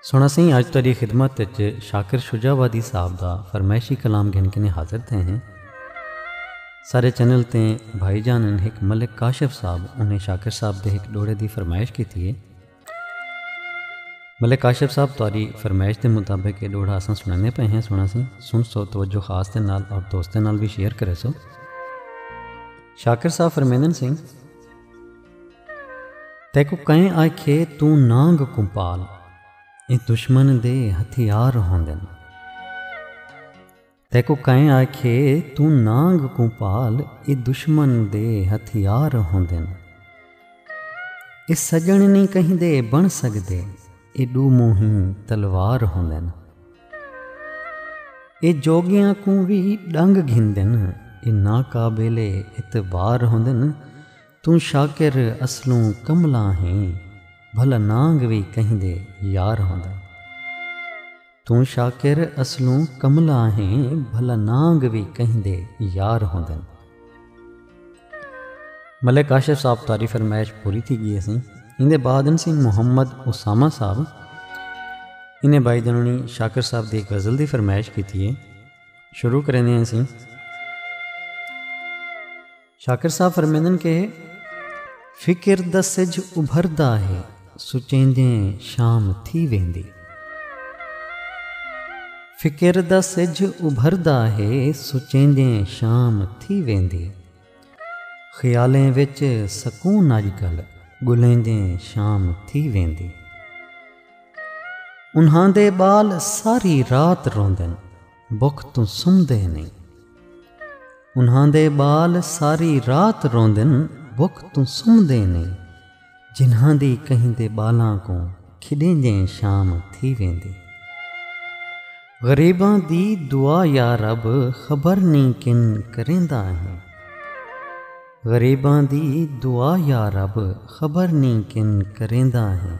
سنڑسیں اج تہاڈی خدمت اچ شاکر شجاع وادی صاحب دا فرمائشی کلام گھن کنیں حاضر تھئے ہیں۔ سارے چینل تے بھائی جان ان ہک ملک کاشف صاحب انہیں شاکر صاحب دے ہک ڈوڑے دی فرمائش کیتی ہے۔ ملک کاشف صاحب تہاڈی فرمائش دے مطابق اے ڈوڑا اساں سنڑنے پئے ہیں سنڑسیں سن سو توجہ خاص دے نال اور دوستاں نال وی شیئر کریسو۔ شاکر صاحب فرمیندن سیں۔ تیکوں کئیں آکھیے توں نانگ کوں پال ایں دشمن دے ہتھیار ہوندن۔ تیکوں کئیں آکھیے توں نانگ کوں پال ایں دشمن دے ہتھیار ہوندن۔ اے سجن نی کہیں دے بن سگدے اے ڈو موہیں تلوار ہوندن۔ اے جوگیاں کوں وی ڈنگ گھندن اے ناقابل اعتبار ہوندن۔ توں شاکر اصلوں کملاں ہیں بھلا نانگ وی کہیں دے یار ہوندا توں شاکر اصلوں کملاں ہیں بھلا نانگ وی کہیں دے یار ہوندن۔ ملک آشر صاحب تاری فرمائش پوری تھی گئی سی ان دے بعد ان سی محمد اسامہ صاحب انہیں بائی دنونی شاکر صاحب دی غزل دی فرمائش کی تھی ہے شروع کرنے ہیں سی شاکر صاحب فرمیندن کہ فکر دا سجھ ابھردا ہے سچیندیں شام تھی ویندی فکر دا سجھ ابھردا ہے سچیندیں شام تھی ویندی خیالیں وچ سکون اج کل گلیندیں شام تھی ویندی انہاں دے بال ساری رات روندن بکھ توں سمدے نئیں۔ انہاں دے ٻال ساری رات روندن بکھ توں سمدے نئیں۔ جنہاں دی کہیں دے ٻالاں کوں کھݙیندیں شام تھی ویندی۔ غریباں دی دعا یا رب خبر نئیں کن کریندا ہیں۔ غریباں دی دعا یا رب خبر نئیں کن کریندا ہیں۔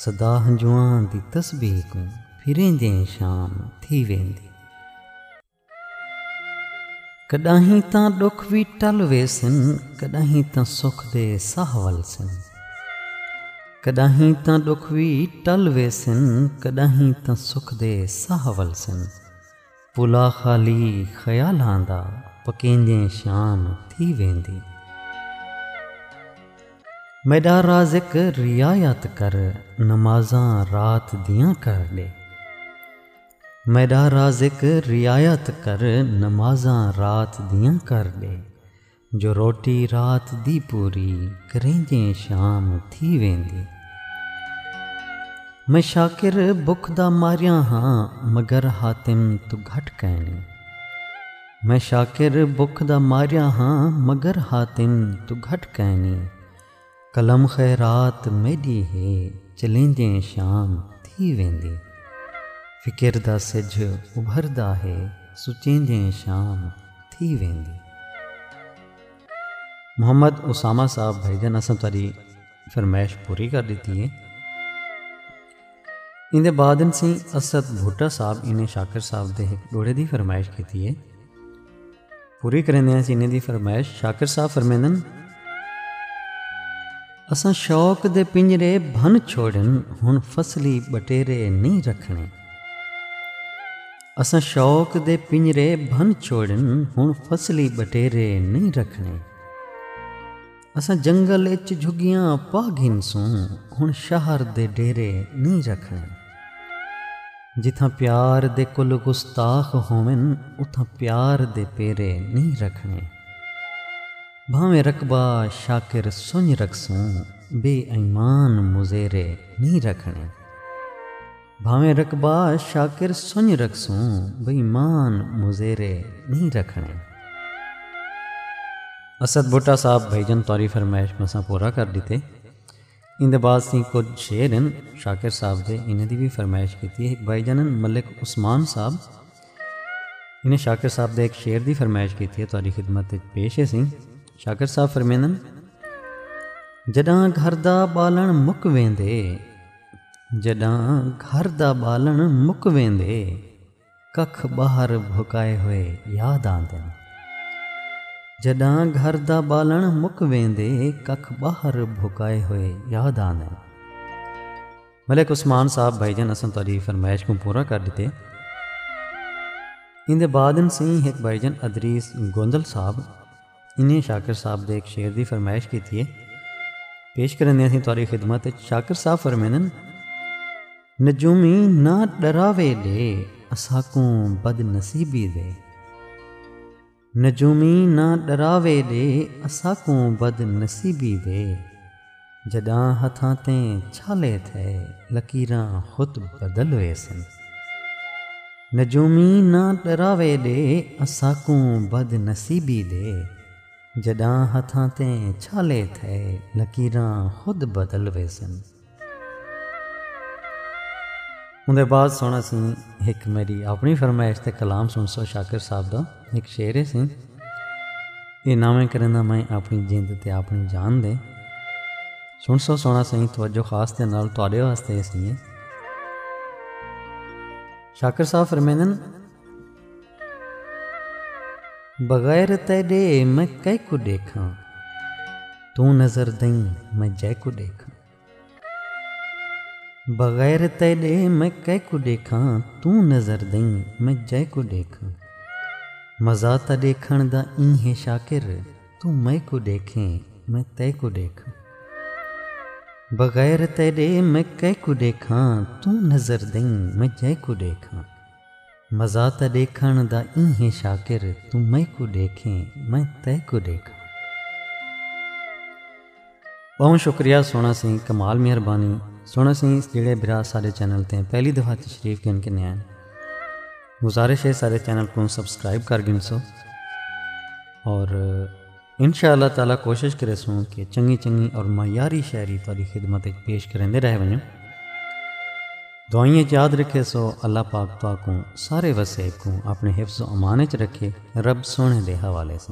صدا ہنجواں دی تسبیح کوں پھریندے شام تھی ویندی۔ کݙاہیں تاں ݙکھ وی ٹل ویسن کݙاہیں تاں سکھ دے ساہ ولسن۔ کݙاہیں تاں ݙکھ وی ٹل ویسن کݙاہیں تاں سکھ دے ساہ ولسن۔ پلا خالی خیالاں دا پکیندیں شام تھی ویندی۔ میݙا رازق رعایت کر نمازاں رات دیاں کر ݙے۔ میݙا رازق رعایت کر نمازاں رات دیاں کر ݙے۔ جو روٹی رات دی پوری کریندیں شام تھی ویندی میں شاکر بکھ دا ماریاں ہاں مگر حاتم توں گھٹ کائنی میں شاکر بکھ دا ماریاں ہاں مگر حاتم توں گھٹ کائنی قلم خیرات میݙی ہے چلیندیں شام تھی ویندی فکر دا سجھ ابھردا ہے سچیندیں شام تھی ویندی۔ محمد اسامہ صاحب بھائی جان اساں تہاݙی فرمائش پوری کر ݙتی ہے۔ ایندے بعد انسی اسد بھٹہ صاحب انہیں شاکر صاحب دے ہک ڈوڑے دی فرمائش کیتی ہے پوری کریں دے انہیں دی فرمائش شاکر صاحب فرمیندن اساں شوق دے پنجرے بھن چھوڑن ہن فصلی بٹیرے نہیں رکھنے اساں شوق دے پنجرے بھن چھوڑن ہن فصلی بٹیرے نہیں رکھنے اساں جنگل اچ جھگیاں پا گھنسوں ہن شہر دے ڈیرے نی رکھݨے جتھاں پیار دے کل گستاخ ہوون اتھاں پیار دے پیرے نی رکھݨے بھانویں رقبہ شاکر سنڄ رکھسوں بے ایمان مزیرے نی رکھݨے۔ بھانویں رقبہ شاکر سنڄ رکھسوں بے ایمان مزیرے نئیں رکھݨے۔ اسد بھٹہ صاحب بھائی جان تہاݙی فرمائش مساں پورا کر ݙتے۔ ایندے بعد اسیں کجھ شعر ہن شاکر صاحب دے انہاں دی وی فرمائش کیتی ہک بھائی جان ہن ملک عثمان صاحب انہیں شاکر صاحب دے ہک شعر دی فرمائش کیتی ہے تہاݙی خدمت وچ پیش ہے سیں شاکر صاحب فرمیندن جݙاں گھر دا ٻالݨ مک ویندے۔ جݙاں گھر دا ٻالݨ مک ویندے ککھ ٻاہر بھکائے ہوئے یاد آندن جݙاں گھر دا ٻالݨ مک ویندے ککھ ٻاہر بھکائے ہوئے یاد آندن ملک عثمان صاحب بھائی جان اساں تہاڈی فرمائش کوں پورا کر ݙتے ایندے بعد سئیں ہک بھائی جان ادریس گوندل صاحب انہیں شاکر صاحب دے ایک شعر دی فرمائش کیتی ہے۔ پیش کرندے ہیں تہاڈی خدمت وچ شاکر صاحب فرمیندن۔ نجومی نہ ڈراوے دے اساکوں بد نصیبی دے۔ نجومی نہ ڈراوے دے اساکوں بد نصیبی دے۔ جݙاں ہتھاں تے چھالے تھئے لکیراں خود بدل ویسن۔ نجومی نہ ݙراوے ݙے اساکوں بد نصیبی دے۔ جݙاں ہتھاں تے چھالے تھئے لکیراں خود بدل ویسن۔ اوندے بعد سݨاسی ہک میݙی اپݨی فرمائش تے کلام سݨسو شاکر صاحب دا۔ ہک شعر ہے سئیں۔ اے ناویں کریندا میں اپݨی جند تے اپݨی جان دے۔ سݨ سو سوہݨا سئیں توجہ خاص دے نال تہاݙے واسطے ہے سئیں۔ شاکر صاحب فرمیندن۔ بغیر تیݙے میں کیکوں ݙیکھاں توں نظر دئیں میں جیکوں ݙیکھاں۔ بغیر تیڈے میں کئے کوں ڈیکھاں توں نظر دئیں میں جئے کوں ڈیکھاں مزا تاں ڈیکھن دا ایں ہے شاکر توں مئے کوں ڈیکھیں میں تئے کوں ڈیکھاں بغیر تیڈے میں کئے کوں ڈیکھاں توں نظر دئیں میں جئے کوں ڈیکھاں۔ مزا تاں ݙیکھݨ دا ایں ہے شاکر توں میکوں ݙیکھیں میں تیکوں ݙیکھاں۔ ٻہوں شکریہ سونا سئیں کمال مہربانی سونا سئیں جڑے برا سارے چینل تیں پہلی دفعہ تشریف گھن کے نیان گزارش ہے سارے چینل کو سبسکرائب کر گھن سو اور انشاء اللہ تعالی کوشش کریسوں کہ چنگی چنگی اور معیاری شاعری تہاڈی خدمت وچ پیش کریندے رہ ونجوں دعائیں وچ یاد رکھے سو اللہ پاک تہاکوں سارے وسیب کوں اپنے حفظ و امان وچ رکھے رب سونے دے حوالے سے